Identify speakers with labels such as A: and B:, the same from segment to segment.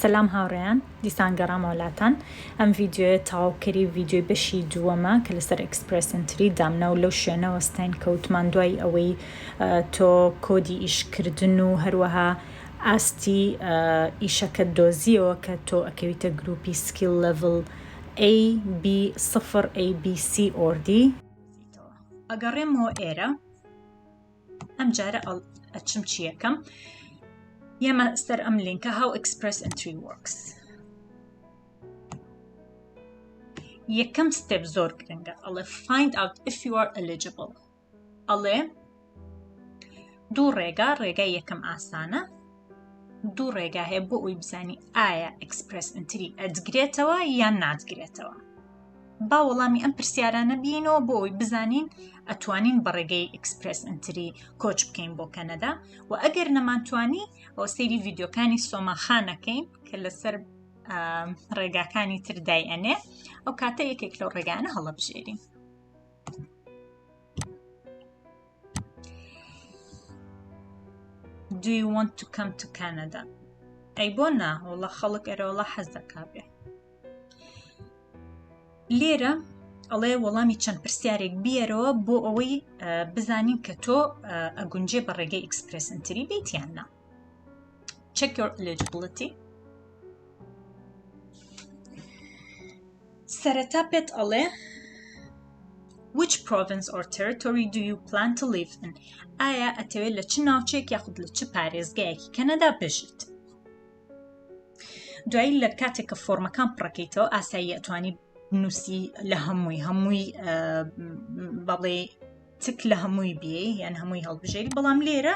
A: سەلام هاوڕێیان دیسان گەڕامەوە لاتان ئەم ڤیددیوە تاوکەری ڤیددیوی بەشی دووەمە کە لەسەر ئەکسپرسنتری دامنا و لەو شوێنەوە ستاین کەوتمان دوای ئەوەی تۆ کۆدی ئیشکردن و هەروەها ئاستی ئیشەکە دۆزیەوە کە تۆ ئەکەویتە گروپی سکیل لەڤل AB سفر ABC ئۆردی ئەگەڕێمەوە ئێرە ئەم جارە ئەچم چیەکەم یەمە سەر ئەم لینکە هاو ئەکسپرس ئەتری وەکس یەکەم ستێپ زۆر گرنگە ئەڵێ find out if you are eligible ئەڵێ دوو ڕێگا ڕێگای یەکەم ئاسانە دوو ڕێگا هەیە بۆ ئەوی بزانی ئایا ئەکسپرس ئەنتری ئەدگرێتەوە یان نادگرێتەوە با وەڵامی ئەم پرسیارانە بینەوە بۆ ئەوی بزانین ئەتوانین بە ڕێگەی ئەکسپرس ئەنتری کۆچ بکەین بۆ کەنەدا و ئەگەر نەمانتوانی ئەو سەیری ڤیددیوکانی سۆماخانەکەین کە لەسەر ڕێگاکانی تردای ئەنێ ئەو کاتە یەکێک لەو ڕێگانە هەڵەبژێرین Do you want to come to Canada? ئەی بۆ نا وڵە خەڵک ئەرەوەڵە حەز دەکا بێ لێرە ئەڵێ وەڵامی چەند پرسیارێک بیەرەوە بۆ ئەوەی بزانین کە تۆ ئەگونجێ بە ڕێگەی ئیکسپرسنتری بیتیان نا check your eligibility سەرەتا پێت ئەڵێ which province or territory do you plan to live in ئایا ئەتەوێت لە چ ناوچێک یاخود لە چ پارێزگایەکی کەنەدا بژیت دوایی لە کاتێک کە فۆرمەکان پڕەکەیتەوە ئاسایی ئەتوانی نووسی لە هەمووی هەمووی بەڵێ تک لە هەمووی بێ یان هەمووی هەڵبژێری بەڵام لێرە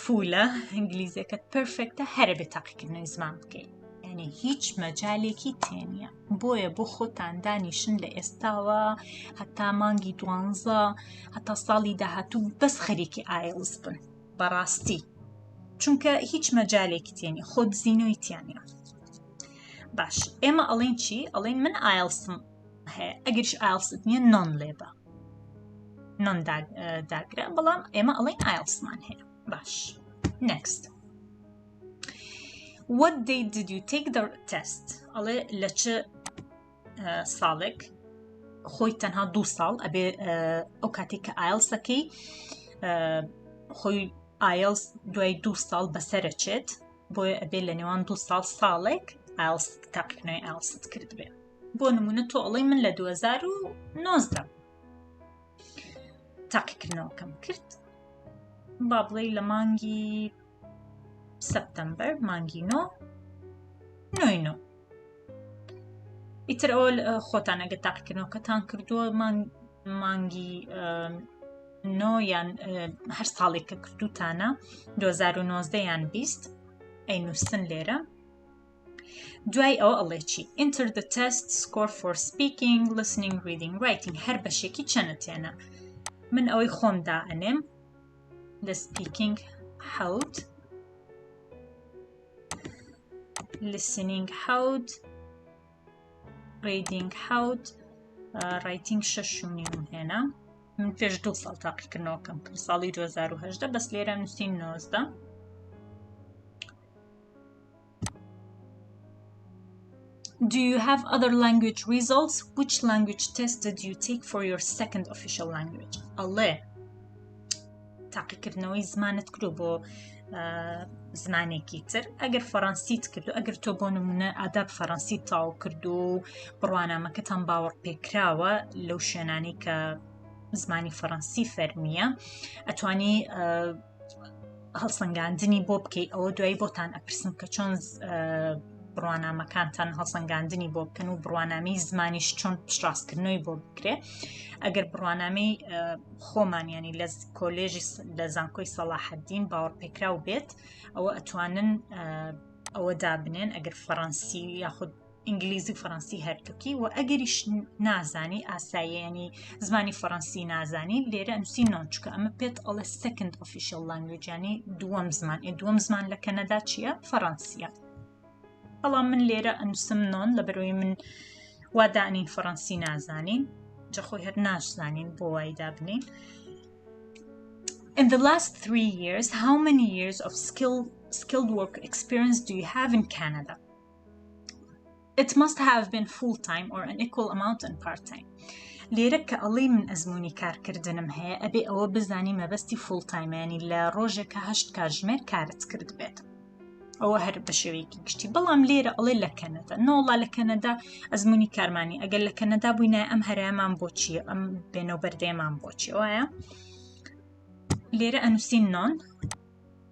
A: فولە ئینگلیزیەکەت پرفێکتە هەرە بێ تاقیکردنەوەی زمان بکەین یعنی هیچ مەجالێکی تێنە بۆیە بۆ خۆتان دانیشن لە ئێستاوە هەتا مانگی دوانزە هەتا ساڵی داهاتوو بەس خەریکی ئایلز بن بەڕاستی چونکە هیچ مەجالێکی تێنی خۆ دزینەوەی تیانە باش ئێمە ئەڵین چی ئەڵین من ئایلسم هەیە ئەگەرش ئالست نیە نۆن لێبە نۆن داگرە بەڵام ئێمە ئەڵین ئایلسمان هەیە باش next what they did you take the test ئەڵێ لە چ ساڵێک خۆی تەنها دو ساڵ ئەبێ ئەو کاتێک کە ئایلسەکەی خۆی ئایلس دوای دو ساڵ بەسەرەچێت بۆیە ئەبێ لە نێوان دو ساڵ ساڵێک ئایلس تاقیکنەوەی ئایلست کردبێت بۆ نمونە تۆ ئەڵی من لە 2009 تاقیکردنەوەکەم کرد با بڵێ لە مانگی سەپتەمبەر مانگی نۆ نۆینۆ ئیتر ئەو خۆتانەگە تاقیکردنەوەکەتان کردووە مانگی نۆ یان هەر ساڵێک کە کردوتانە 2009 یان 20 ئەی نووسن لێرە دوای ئەوە ئەڵێ چی Enter the test score for speaking, listening, reading, writing هەر بەشێکی چەنە تێنە من ئەوەی خۆم دا ئەنێم لە speaking حەوت listening حەوت reading حەوت ڕیتنگ شەش شونی من هێنا من پێش دوو ساڵ تاقیکردنەوەکەم کرد ساڵی 2010 بەس لێرە نووسین نۆزدە Do you have other language results? Which language test did you take for your second official language? ئەڵێ تاقیکردنەوەی زمانت کرد بۆ زمانێکی تر ئەگەر فەڕەنسیت کرد و ئەگەر تۆ بۆ نمونە ئاداب فەڕەنسی تاو کرد و بڕوانامەکەتان باوەڕ پێکراوە لەو شوێنانی کە زمانی فەڕەنسی فەرمیە ئەتوانی هەڵسەنگاندنی بۆ بکەیت ئەوە دوای بۆتان ئەپرسم کە چۆن بڕوانامەکانتان هەڵسەنگاندنی بۆ بکەن و بڕوانامی زمانیش چۆن پشتڕاستکردنەوەی بۆ بکرێ ئەگەر بڕوانامی خۆمانیانی لە کۆلێژی لە زانکۆی سەڵاحەدین باوەڕ پێکراو بێت ئەوە ئەتوانن ئەوە دابنێن ئەگەر فەڕەنسی یاخود ئینگلیزی و فەڕەنسی هەردووکی و ئەگەریش نازانی ئاساییانی زمانی فەڕەنسی نازانی لێرە ئەنووسی نۆچکە ئەمە پێت ئەڵە سەکند ئۆفیشل لانگوێجانی دووەم زمان ئێ دووەم زمان لە کەنەدا چییە فەڕەنسیە بەڵام من لێرە ئەنووسم نۆن لە بەرەوەی من وادانین فەڕەنسی نازانین جەخۆی هەر ناشزانین بۆ وای دابنین In the last three years, how many years of skill, skilled work experience do you have in Canada? it must have been full time or an equal amount and part time لێرە کە ئەڵی من ئەزمموی کارکردنم هەیە ئەبێ ئەوە بزانی مەبەستی فول تایمانی لە ڕۆژێکە هەشت کاژمێر کارت کرد بێت ئەوە هەر بە شێوەیەکی گشتی بەڵام لێرە ئەڵێ لە کەنەدا نۆڵا لە کەنەدا ئەزمموی کارمانی ئەگەر لە کەنەدا بووینە ئەم هەرەمان بۆچی ئەم بێنەوە بەردەێمان بۆچی وایە لێرە ئەنووسین نۆن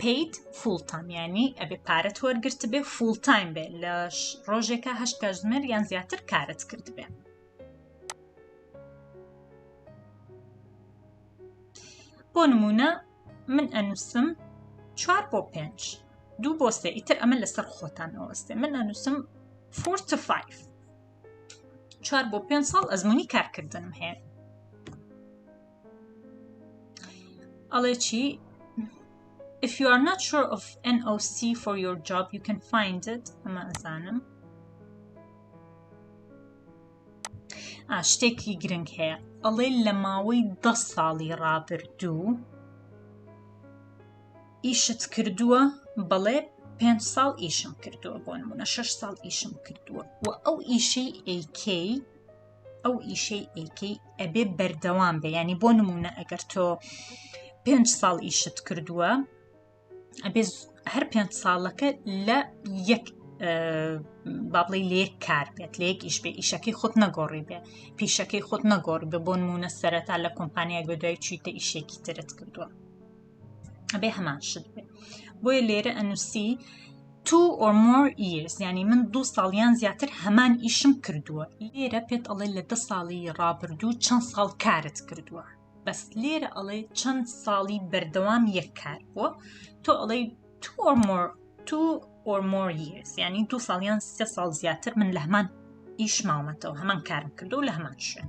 A: پیت فول تام ینی ئەبێ پارەت وەرگرت بێ فول تایم بێ لە ڕۆژێکە هەشت کاژمێر یان زیاتر کارت کرد بێ بۆ نمونە من ئەنووسم چوار بۆ پێنج دوو بۆ سێ ئیتر ئەمە لەسەر خۆتان ئەوەستێ من ئەنووسم فور to 5 چوار بۆ پێ ساڵ ئەزمموی کارکردنم هەیە ئەڵێ چی If you are not sure of NOC for your job, you can find it. ئەمە ئەزانم. شتێکی گرنگ هەیە ئەڵێ لە ماوەی ده ساڵی ڕابردوو ئیشت کردووە بەڵێ پێ ساڵ ئیشم کردووە بۆ نمونە شش ساڵ ئیشم کردووە و ئەو ئیشەی ئەیکەی ئەو ئیشەی ئەیکەی ئەبێ بەردەوام بێ ینی بۆ نمونە ئەگەر تۆ پێنج ساڵ ئیشت کردووە ئەبێ هەر پێنج ساڵەکە لە یەک بابڵی لێک کار بێت لێک ئیش بێ ئیشەکەی خۆت نەگۆڕی بێ پیشەکەی خۆت نەگۆڕ بە بۆ نمونە سەرەتا لە کۆمپانیایەک بە دوای چیتە ئیشێکی ترت کردووە ئەبێ هەمان شت بێ بۆیە لێرە ئەنووسی two or more years ینی من دوو ساڵیان زیاتر هەمان ئیشم کردووە لێرە پێت ئەڵێ لە دە ساڵی ڕابردوو چەند ساڵ کارت کردووە بەس لێرە ئەڵێ چەند ساڵی بەردەوام یەک کار بووە تۆ ئەڵێ two or more two or more years ینی دوو ساڵیان سێ ساڵ زیاتر من لە هەمان ئیش ماومەتەوە هەمان کارم کردو لە هەمان شوێن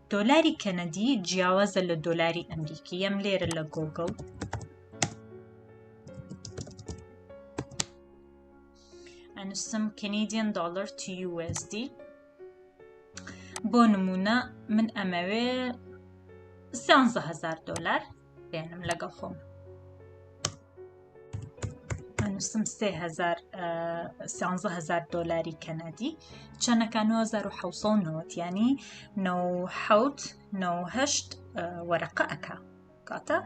A: دۆلاری کەنەدی جیاوازە لە دۆلاری ئەمریکی یەم لێرە لە گۆگڵ ئەنووسم کەنیدیان دلار TUSD بۆ نمونە من ئەمەوێ سیانزە هزار دلار بێنم لەگەڵ خۆم نووسم هزار دلاری کەنەدی چەنەکە 1970 ینی 1970 وەرەقە ئەک کاتە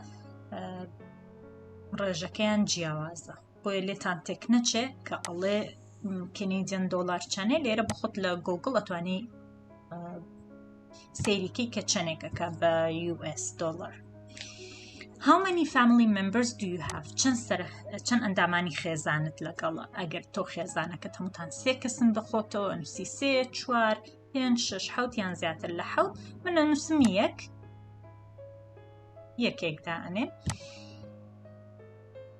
A: ڕێژەکەیان جیاوازە بۆیە لێتان تێک نەچێ کە ئەڵێ کەنیدیان دۆلار چەنێ لێرە بخۆت لە گۆگل ئەتوانی سەیریکی کە چەنێکەکە بە US دلار How many family members do you have چەند سەر چەند ئەندامانی خێزانت لەگەڵ ئەگەر تۆ خێزانەکە هەمووتان سێ کەسن بەخۆتەوە نووسی سێ چوار پێنج شش حوت یان زیاتر لە حوت منە نووسم یەک یەکێکدا ئەنێ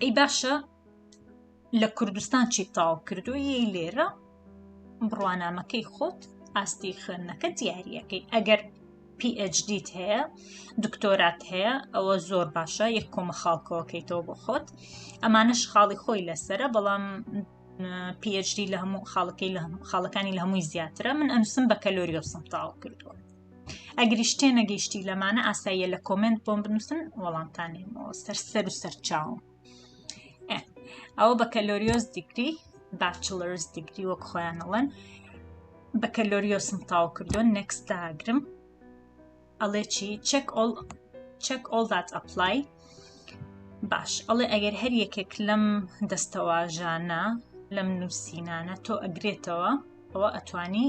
A: ئەی باشە لە کوردستان چی تاو کردووی لێرە بڕوانامەکەی خۆت ئاستی خوێندنەکە دیارەکەی ئەگەر PHD هەیە دکتۆرات هەیە ئەوە زۆر باشە یەک کۆمە خاڵکەوەکەیتەوە بۆ خۆت ئەمانش خاڵی خۆی لەسرە بەڵام PHD لە هەموو خاڵەکەی لە خاڵەکانی لە هەمووی زیاترە من ئەنووسم بە کەلۆریۆسم تاو کردووە ئەگریش تێ نەگەیشتی لەمانە ئاساییە لە کۆمنت بۆم بنووسن وەڵامتانێمەوە سەر سەر و سەرچاوم ئەوە بە کەلۆریۆز دیگری باچلرز دیگری وەک خۆیانەڵەن بە کەلۆریۆسم تاو کردووە نەکست داگرم ئەڵێ چی چەک ئۆڵ چەک ئۆڵ دات ئەپلای باش ئەڵێ ئەگەر هەر یەکێک لەم دەستەواژانە لەم نووسینانە تۆ ئەگرێتەوە ئەوە ئەتوانی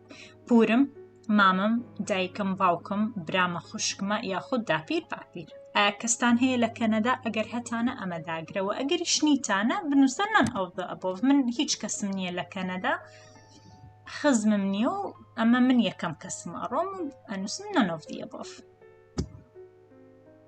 A: پورم مامم دایکم باوکم برامە خوشکمە یاخود داپیر باپیر ئایا کەستان هەیە لە کەنەدا ئەگەر هەتانە ئەمە داگرەوە ئەگەری شنیتانە بنووسە نان ئەو ئەبۆ من هیچ کەسم نییە لە کەنەدا خزمم نییە و ئەمە من یەکەم کەسم ئەڕۆم ئەنووسم نەنۆڤدیە بۆف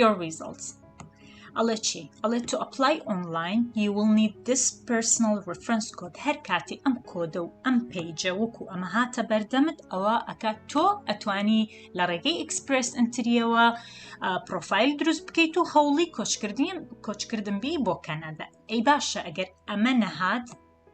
A: your results ئەڵێ چی ئەڵێ تو ئەپلای ئۆنلاین you will need this personal reference code هەر کاتی ئەم کۆدە و ئەم پیجە وەکو ئەمە هاتە بەردەمت ئەوە ئەکا تۆ ئەتوانی لە ڕێگەی ئەکسپرس ئەتریەوە پرۆفایل دروست بکەیت و هەوڵی کۆچکردیم کۆچکردن بی بۆ کەنەدا ئەی باشە ئەگەر ئەمە نەهات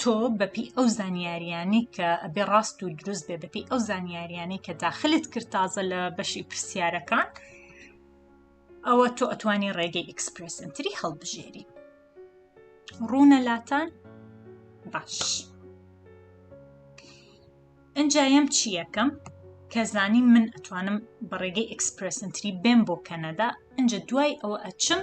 A: تۆ بەپی ئەو زانیاریانی کە ئەبێ ڕاست و دروست بێ بەپی ئەو زانیاریانی کە داخلت کرد تازە لە بەشی پرسیارەکان ئەوە تۆ ئەتوانی ڕێگەی ئیکسپرسنتری هەڵبژێری ڕوونە لاتان باش ئەجایم چی یەکەم کە زانی من ئەتوانم بە ڕێگەی ئیکسپرسنتری بێم بۆ کەنەدا ئەجا دوای ئەوە ئەچم